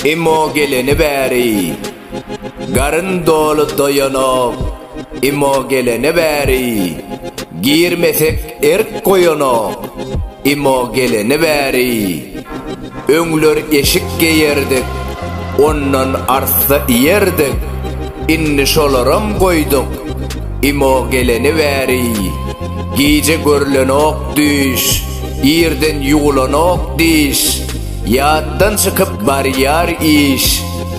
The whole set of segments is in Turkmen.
Imo geleni bäri Garyn doly doýanok Imo geleni bäri Girmesek erk goýanok Imo geleni bäri. Öňler eşik geýerdik, ondan arssa iýerdik, indi şolaram goýduk. Imo geleni bäri, gije görlenok düýş, irden ýuwlanok diş, ýatdan çykyp barýar iş,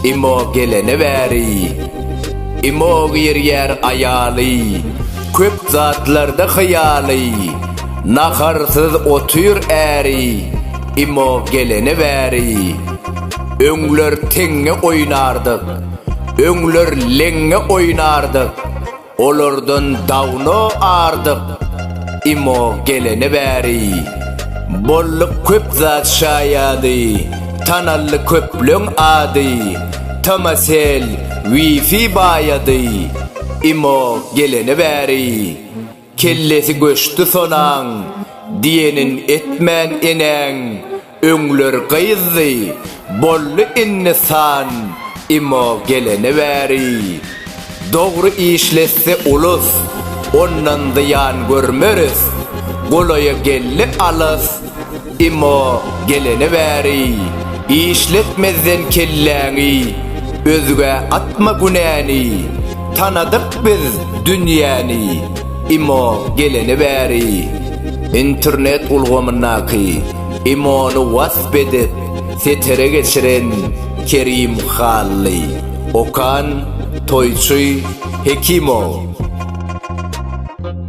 Imo geleni bäri. Imo girýär aýaly, köp zatlarda hyýaly, naharsyz otyr äri, Imo gelene bäri öňler teňňe oýnardyk, öňler leňňe oýnardyk, olardan dawno ardyk. Imo gelene bäri bolduk köp zat şaýady, tanaldy köpleň ady, Tomasel, Wifi baýady. Imo gelene bäri Kellesi göçdi sonaň, diýenin etmän enäň, öňler gyzdy, boldy indi san, imo gelene bäri. Dogry işletse ulus, ondan zyýan görmeris, golaýa geldi alys, Emma gelene bäri işletmezden kelläňi özgä atma günäni tanadyk biz dünýäni Emma gelene bäri internet ulgamyndaky Emony wasp edip setere geçiren Kerim Hally Okan Toýçy Hekimow.